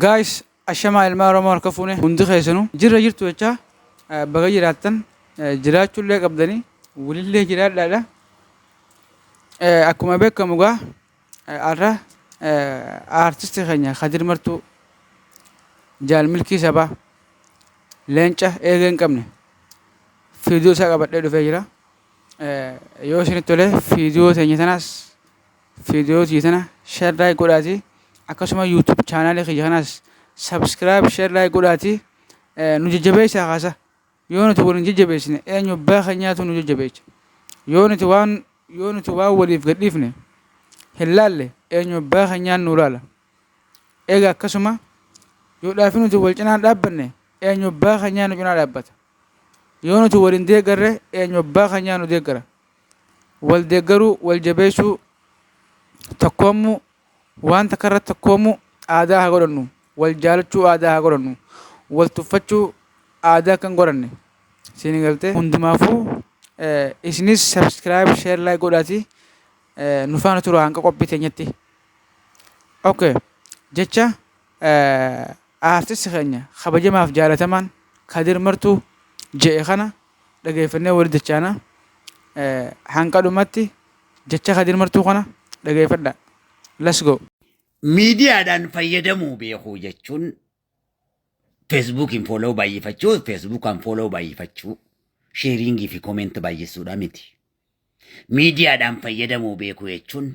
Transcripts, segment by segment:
Guys ashamaa ilmaa oromoo harka fuune hundi keessanu jirra jirtu jechaa baga jiraattan jiraachuullee qabdanii walillee jiraadhaadha akkuma beekamu gaa arra aartisti keenya kadir martuu jaal milkii sabaa leenca eegee hin qabne fiidiyoo isaa qabadhee dhufee jira yoo isinitti tolee fiidiyoo teenya tanaas Video tiyya tana share like godhaati akkasuma YouTube channel kiyya kanaas subscribe share like godhaati nu jajjabeessaa kaasa yoo nuti wal hin jajjabeessine eenyu abbaa keenyaatu nu jajjabeecha yoo nuti waan yoo nuti waan waliif gadhiifne hin laalle eenyu abbaa keenyaan nu laala eega akkasuma yoo dhaafi nuti wal cinaan dhaabbanne eenyu abbaa keenyaa nu cinaa dhaabbata yoo nuti wal hin deeggarre eenyu abbaa keenyaa nu deeggara Wal deeggaruu, wal jabeessuu, tokkoommuu, waan takka irratti tokkoommuu aadaa haa godhannu. Wal jaalachuu aadaa haa godhannu. Wal tuffachuu aadaa akka hin godhanne. Siin galtee? Hundumaafuu isinis subscribe, share, like godhaatii nu faana turaa hanga qophii teenyatti. Okay. Jecha aartisti keenya kabajamaaf jaalatamaan Kadir Martuu je'e kana dhageeffannee walitti dachaana. Hanga dhumatti jecha Kadir Martuu kana dhageeffadhaa. Let's go! Miidiyaadhaan fayyadamuu beekuu jechuun feesbuukiin fooloo baay'ifachuu, feesbuukaan fooloo baay'ifachuu, sheeriingii fi koomeenti baay'isuudha miti. Miidiyaadhaan fayyadamuu beekuu jechuun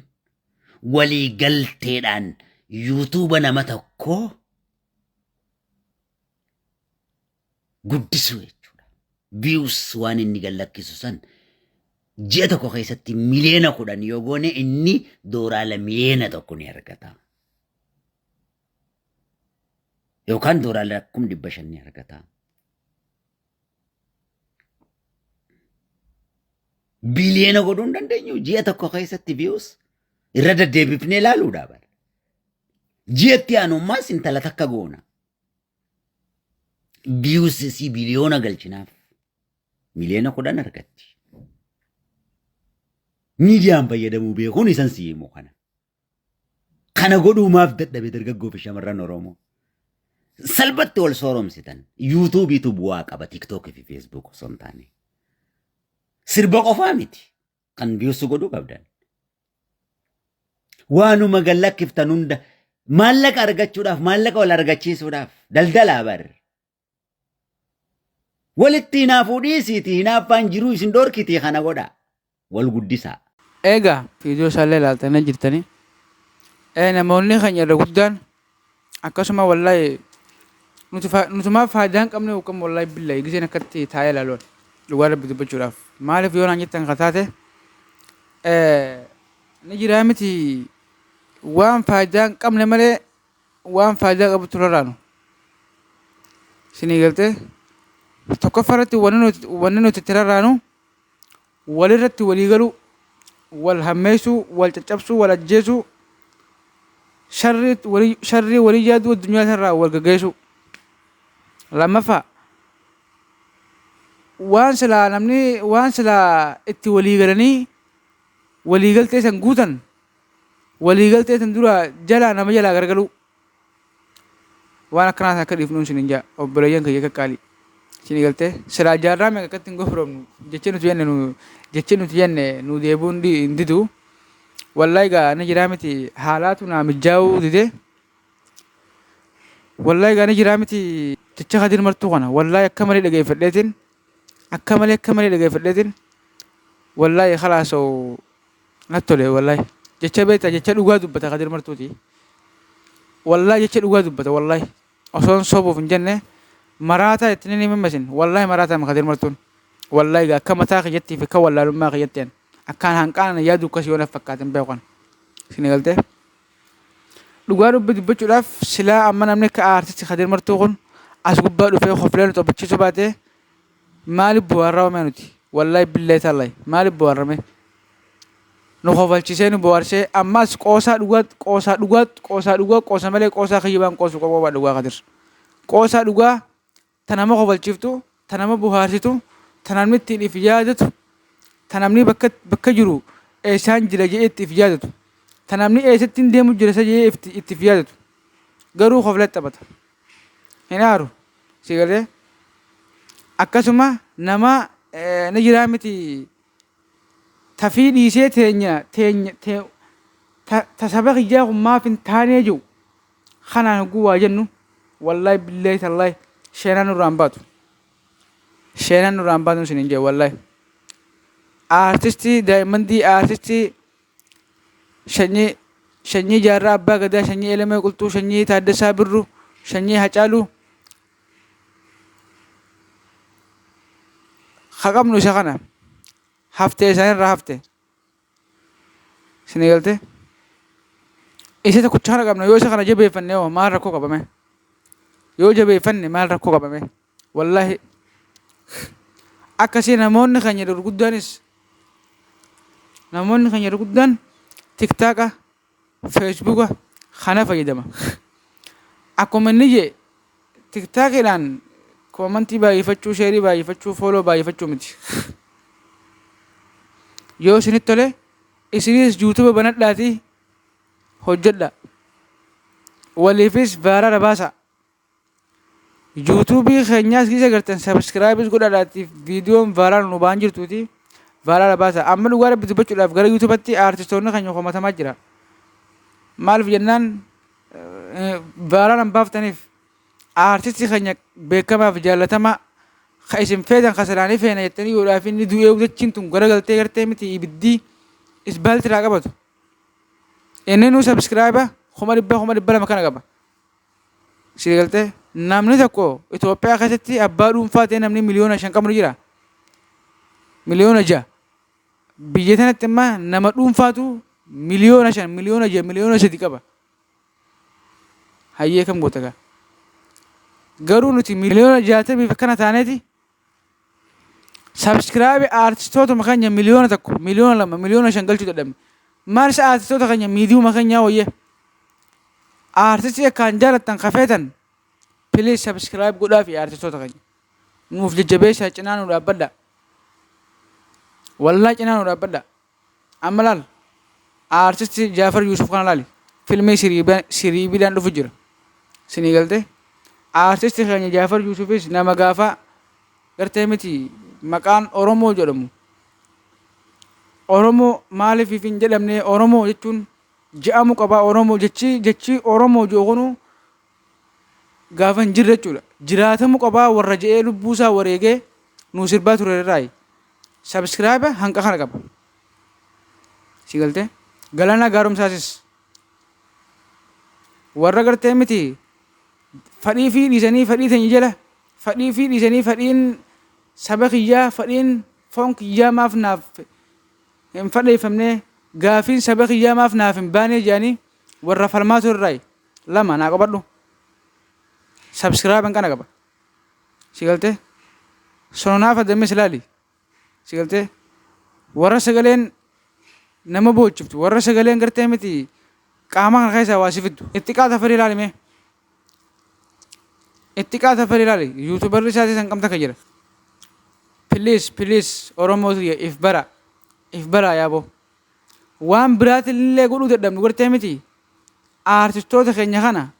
walii galteedhaan yuutuuba nama tokkoo guddisuu jechuudha. Views waan inni gallakkisu san ji'a tokko keessatti miliyoona kudhan yoo goone inni dooraala miliyoona tokko ni argata. Yookaan dooraala kum dhibba shan ni argata. Biliyoona godhuu hin dandeenyu ji'a tokko keessatti views irra deddeebifnee ilaaluudha bara. Ji'atti aanummaas intala takka goona. Views isii biliyoona galchinaaf. Miliyoona kudhan argatti. Miidiyaan fayyadamuu beekuun isan si himu kana. Kana godhuu maaf dadhabe dargaggoo fi shamarran Oromoo. Salphatti wal sooromsitan. Yuutuubiitu bu'aa qaba TikTok fi Facebook osoo hin taane. Sirba qofaa miti. kan biusu godhuu qabdan. Waanuma gad lakkiftan hunda maallaqa argachuudhaaf maallaqa wal argachiisuudhaaf daldalaa bar. Walitti hinaafuu dhiisiiti hinaaffaan jiruu isin dhorkitii kana godhaa wal guddisaa. Eegaa viidiyoo isaallee ilaaltanii jirtanii. Ee namoonni keenya irra guddaan Akkasuma wallahi nuti fa- nutumaa faayidaa hin qabne yookaan wallahi billahi giseen akkatti taa'ee ilaaluun dhugaa rabbi dubbachuudhaaf maaliif yoo naan jettan kan taate eh, ni jiraa miti waan faayidaa hin qabne malee waan faayidaa qabutu raraanu sinii galtee tokkoffaa irratti wanni nuti wanni nuti itti raraanu walirratti walii galuu, wal hammeessuu, wal caccabsuu, wal ajjeesuu, sharrii walii yaaduu addunyaa tanarraa wal gaggeessuu. Lammaffaa, waan silaa namni waan silaa itti walii galanii walii galtee san guutan walii galtee san duraa jalaa nama jalaa gargaluu. Waan akkanaa sana akka dhiifnuun isin hin jaa obboleeyyan kiyya qaqqaalii. Isin galtee silaa jaarraa meeqa akkatti hin gofromnu jecha nuti yanne nu jecha nuti yanne nu deebi'uu hin di- hin didu. Wallaahi gaa ni jiraa miti haalaatu naa mijaa'uu dide. Wallaahi gaa ni jiraa miti jecha kadir martuu kana wallaahi akka malee dhageeffadheetiin akka malee akka malee dhageeffadheetiin wallaahi kalaasoo Natti tole wallahi. Jecha beektaa jecha dhugaa dubbata Kadir Martuuti. Wallahi jecha dhugaa dubbata wallahi. Osoon sobuuf hin jenne maraataa itti ni mimmasin. Wallahi maraataa ma Kadir Martuun. Wallahi gaa akka mataa kiyyattii fi akka wallaalummaa kiyyatteen akkaan hanqaana yaaduu akkasii waan fakkaatin beekan. Isin galtee? Dhugaa dubbi dubbachuudhaaf silaa amma namni akka aartisti Kadir Martuu kun as gubbaa dhufee hofilaan nu taphachiisuu baatee Maalif booharra ome nuti wallahi billahi tallahi maalif booharra mee nu kofalchisee nu booharsee ammaas qoosaa dhugaa qoosaa dhugaa qoosaa dhugaa qoosa malee qoosaa kiyyibaan qoosu qofa waa dhugaa kadir qoosaa dhugaa ta nama kofalchiftu ta nama bohaarsitu ta namni ittiin if yaadatu ta namni bakka bakka jiru eessaan jira jedhee itti if yaadatu ta namni eessatti hin deemu jira isa jedhee itti if yaadatu garuu kofla taphata hin aaru si galee akkasuma nama eh, ni jiraa miti tafii dhiisee teenya teenya te, ta, ta saba kiyyaa kun maaf hin taanee jiru kanaan hogguu waa jennu wallahi billahi tallahi sheenaan nurraa hin baatu sheenaan nurraa hin baatu isin hin jee wallahi aartistii daa'imman dii aartistii Shanyii Shanyii Jaarraa Abbaa Gadaa Shanyii Elemee Qulxuu Shanyii Taaddasaa Birruu Shanyii Hacaaluu ha qabnu isa kana haftee isaanirraa hafte sini galte isa tokkicha kana qabna yoo isa kana jabeeffanne hoo maal rakkoo qabame yoo jabeeffanne maal rakkoo qabame Wallahi akkasi namoonni keenya gurguddaanis namoonni keenya gurguddaan tiktaaka feesbuuka kana fayyadama akkuma inni jee tiktaakidhaan koomantii baay'ifachuu sheerii baay'ifachuu fooloo baay'ifachuu miti yoo isinitti tole isinis yuutuba banadhaatii hojjedha waliifis baaraara baasaa Yuutuubii keenyaas isa gartan sabiskiraayibis godhaadhaatiif viidiyoon vaaraal nu ba'an jirtuuti vaaraala baasa. Amma dhugaa rabbi dubbachuudhaaf gara yuutuubatti aartistoonni keenya komatamaa jira. Maaliif jennaan vaaraalan baaftaniif aartistii keenya beekamaaf jaallatamaa ka isin feetan ka salaanii feena jettanii yoodhaaf inni du'ee udachiin tun garagaltee gartee miti ibiddii isbaaltiraa qabatu. Inni nu sabiskiraayiba kuma dhibba kuma dhibba lama kana qaba. Sigaltee? Namni tokko Itoophiyaa keessatti abbaa dhuunfaa ta'ee namni miliyoona shan qabu ni jira. Miliyoona ja'a. Biyya sanatti amma nama dhuunfaatu miliyoona shan, miliyoona ja'a, miliyoona sadi qaba. Hayyee kam goota gaa? Garuu nuti miliyoona jaatamiif akkana taaneeti Sabskiraabii aartistootuma keenya miliyoona tokko, miliyoona lama, miliyoona shan galchuu dadhabne. Maalis aartistoota keenya miidiyuma keenyaa wayya. Aartistii akkaan jaalattan kafeetan piliis sabskiraayib godhaa fi aartistoota keenya. Nuuf jajjabeessaa cinaa nu dhaabbadhaa. Wallaa cinaa nu dhaabbadhaa. Amma laal artist Jafar Yusuf kana laali filmii siriiba siriibidaan dhufu jira sinii galte artist keenya Jafar Yusufis nama gaafa gartee miti maqaan Oromoo jedhamu Oromoo maaliif if hin jedhamne Oromoo jechuun je'amu qaba Oromoo jechi jechi Oromoo ji'u kunu gaafa hin jirre jechuudha jiraatamu qaba warra je'ee lubbuusaa wareegee nuu sirbaa ture irraayi Subscriber hanqa kana qaba. Si galte? Galana gaarumsaasis. Warra gartee miti fadhii fi dhiisanii fadhii teenya jala fadhii fi dhiisanii fadhiin saba kiyyaa fadhiin foon kiyyaa maaf naaf hin fadheeffamne gaafiin saba kiyyaa maaf naaf hin baanee jedhanii warra falmaa turraayi lama naa qabadhu. Subscriber hanqana qaba. sigaltee sononaa fadammes laali sigaltee warra sagaleen nama boochiftu warra sagaleen gartee miti qaama kana keessaa waa si fiddu itti qaata fadii laali mee itti qaata fadii laali yuutubarri isaatii san qabda ka jira piliis piliis oromoo tiyya if bara if bara yaaboo waan biraatillee godhuu dadhabnu gartee miti aartistoota keenya kana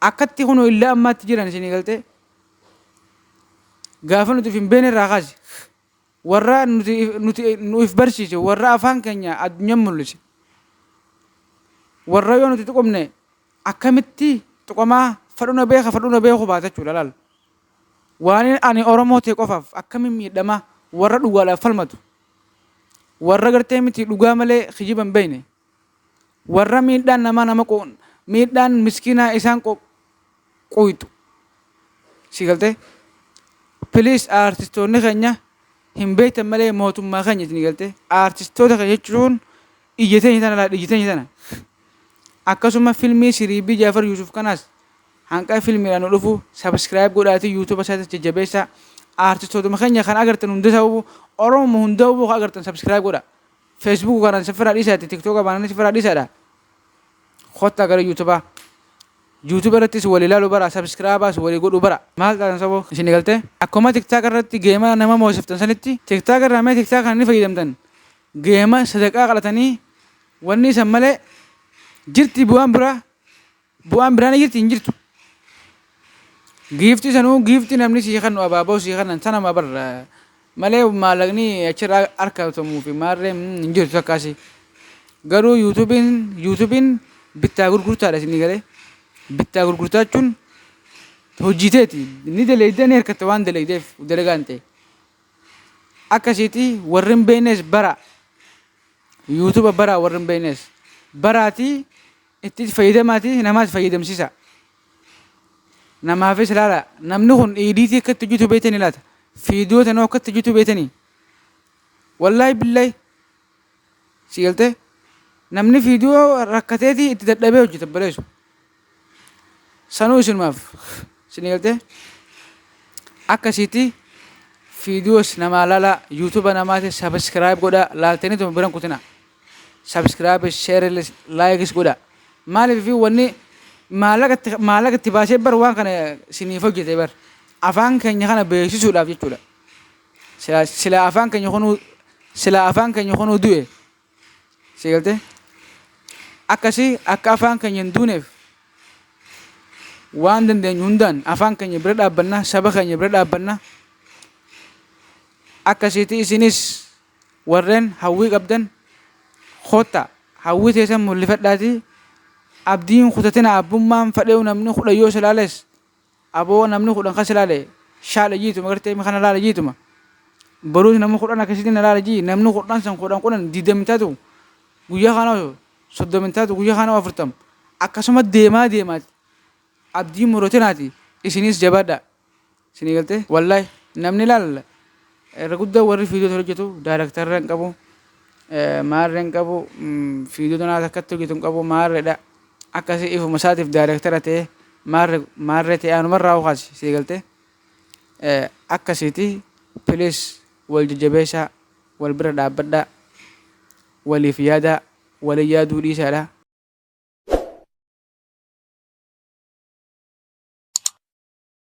akkatti kunoo illa ammaatti jiran isinii galtee gaafa nuti of hin beekne irraa kaase warra nuti nuti nuuf barsiise warra afaan keenya addunyaa mul'ise warra yoo nuti tuqamne akkamitti tuqamaa fadhu na beeka fadhu na beeku baata jechuudha laal waan ani oromoo ta'e qofaaf akkamiin miidhamaa warra dhugaadhaaf falmatu warra gartee miti dhugaa malee kijiba hin beekne Warra miidhaan namaa nama miidhaan miskiinaa isaan quuyxu. Si galtee? Please aartistoonni keenya hin beektan malee mootummaa keenya isin galtee? Aartistoota keenya jechuun ija teenya tana laadha ija teenya tana. Akkasuma filmii siriibii Jaafar Yuusuf kanaas hanqa filmiidhaan nu dhufu subscribe godhaatii yuutuuba isaatiis jajjabeessaa. Aartistootuma keenya kan agartan hunda ta'uu Oromoo hunda ta'uu kan agartan subscribe godhaa. Facebook kanan sifira dhisa itti tiktoka banani sifira dhisa dha kotta gara youtube youtube irrattis wali lalu bara subscribers wali godhu bara maal taatan sabo isin galte akkuma tiktok irratti geema nama moosiftan sanitti tiktok irraa mee tiktok kana ni fayyadamtan geema sadaqaa qalatanii wanni isan malee jirti bu'aan biraa Bu'aan biraa ni jirti hin jirtu. Giifti sanuu giifti namni sii kennu abaaboo sii kennan sanuma bar malee maallaqni achirraa harkatamuu fi maarree mm, hin jirtu takkaasi. Garuu yuutuubiin yuutuubiin bittaa gurgurtaadha isin galee. Bittaa gurgurtaa jechuun hojii teeti ni daleeyda ni hirkatta waan daleeydeef dalagaan ta'e. Akkasiiti warri hin beeknes bara yuutuuba bara warri hin beeknes baraatii Ittis fayyadamaati namaas fayyadamsisaa. Namaafis laalaa. Namni kun iidiitii akka itti hojjetu beektanii laata? Fiidiyoo tanoo akka itti hojjetu beektanii? Wallaahi billahi. Si galtee? Namni fiidiyoo rakkateeti itti dadhabee hojjeta baleessu. Sanuu isinumaaf. Si galtee? Akkasiitii fiidiyoos namaa laalaa. Yuutuuba namaatis sabiskiraayib godhaa. Laaltanii tuma biran kutinaa. subscribe share likes godha maaliif fi wanni maallaqatti maallaqatti baasee bar waan kana siniif hojjete bar afaan keenya kana beeksisuudhaaf jechuudha sila sila afaan keenya kunuu sila afaan keenya kunuu du'e si galte akkasii akka afaan keenya hin duuneef waan dandeenyu hundaan afaan keenya bira dhaabbanna saba keenya bira dhaabbanna akkasiitii isinis Warreen hawwii qabdan kottaa hawwii teessan mul'ifadhaatii abdii hin kutatina abbummaan fadheew namni kudhan yoo si laales aboo namni kudhan kan si laale shaala jiituma gartee mi kana laala jiituma boruus namni kudhan akkasitti na laala jii namni kudhan san kudhan kudhan digdami taatu guyyaa kana hoo soddomi taatu guyyaa kana hoo afurtam akkasuma deemaa deemaati abdii hin murotinaati isiniis jabaadhaa. Sini galte wallahi namni laal irra guddaa warri fiidiyoo tana hojjetu daaraktarra hin qabu maarre hin qabu fiidiyoo tanaa takkatti hojjetu hin qabu maarredha akkasii ifuma isaatiif daaraktara ta'e maarre maarre ta'e anumarraa hokaasi sii galte akkasiiti pilis wal jajjabeessaa wal bira dhaabbadhaa waliif yaadaa walii yaaduu dhiisaadha.